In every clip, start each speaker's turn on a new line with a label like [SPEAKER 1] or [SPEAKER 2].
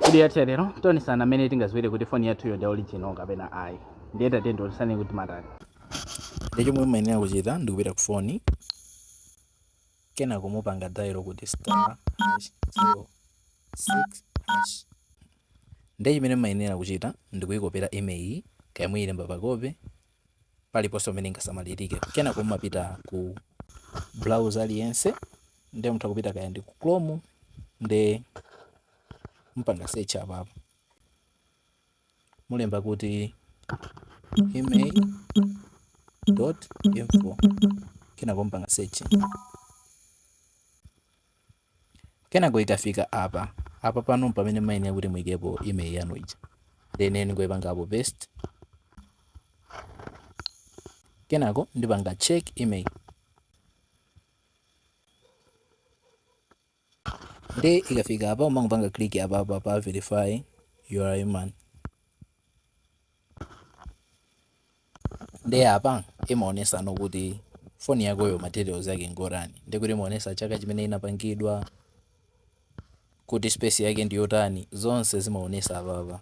[SPEAKER 1] video yathu lero tionesana mmene tingaziwire kuti foni yathuyo ndi original kapena ayi ndiye tatiyeni tionesane kuti timatani nde chomwe
[SPEAKER 2] mumayenera kuchita ndikupita ku foni kenako mupanga dial kuti star hash zero six hash ndiye chimene mumayenera kuchita ndikuyikopera IMEI kaya muyilemba pakope paliponse pomwe ingasamalirike. Kenako mumapita ku browser aliyense, nde mutha kupita kaya ndi ku Chrome nde mupanga search apapo, mulemba kuti IMEI dot info kenako mupanga search. Kenako ikafika apa, apa pano mpamene mmayenera kuti muikepo IMEI yanu ija. Then ndingoipanga apo paste. Kenako ndipanga check IMEI. Nde ikafika apa umangopanga click apa apa pa verify you are a human. nde apa imaonesano kuti phone yakoyo materials ake ndi otani ndekuti imaonesa chaka chimene inapangidwa kuti space yake ndiyotani zonse zimaonesa apapa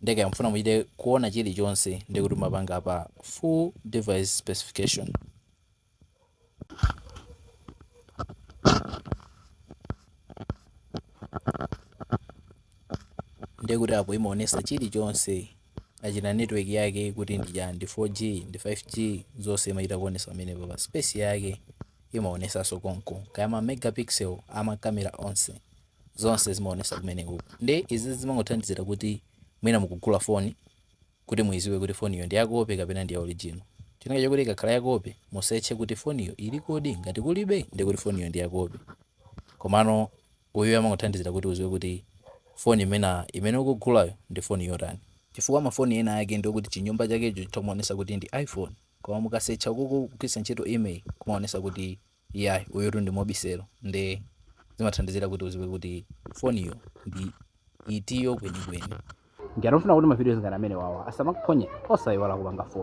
[SPEAKER 2] nde kaya mufuna muchite kuona chilichonse ndekuti mumapanga apa full device specification ndiye kuti apo imaonesa chilichonse achina network yake kuti ndi chani ndi 4g ndi 5g zonse imachita kuonesa pamenepapa space yake imaonesanso konko kaya ma megapixel ama kamera onse zonse zimaonesa kumeneko nde izi zimangothandizira kuti mwina mukugula foni Kuti muiziwe kuti foniyo ndi ya kope kapena ndi ya original chifukwa chakuti ikakhala ya kope musearche kuti foniyo ilikodi ngati kulibe ndiye kuti foniyo ndi ya kope komano uyuyu amangothandizira kuti uziwe kuti foni imene ukugulayo ndi foni yotani chifukwa ma foni ena ake ndi okuti chinyumba chakecho chitha kumaonesa kuti ndi iphone koma mukasearcha ukoko kugwiritsa ntchito IMEI kumaonesa kuti iyayi uyutu ndi Mobicel nde zimathandizira kuti uziwe kuti foniyo ndi
[SPEAKER 1] itiyo kwenikweni. Ngati mufuna kuti ma videos ngati amenewawa asamakuphonye, osaiwala kupanga follow.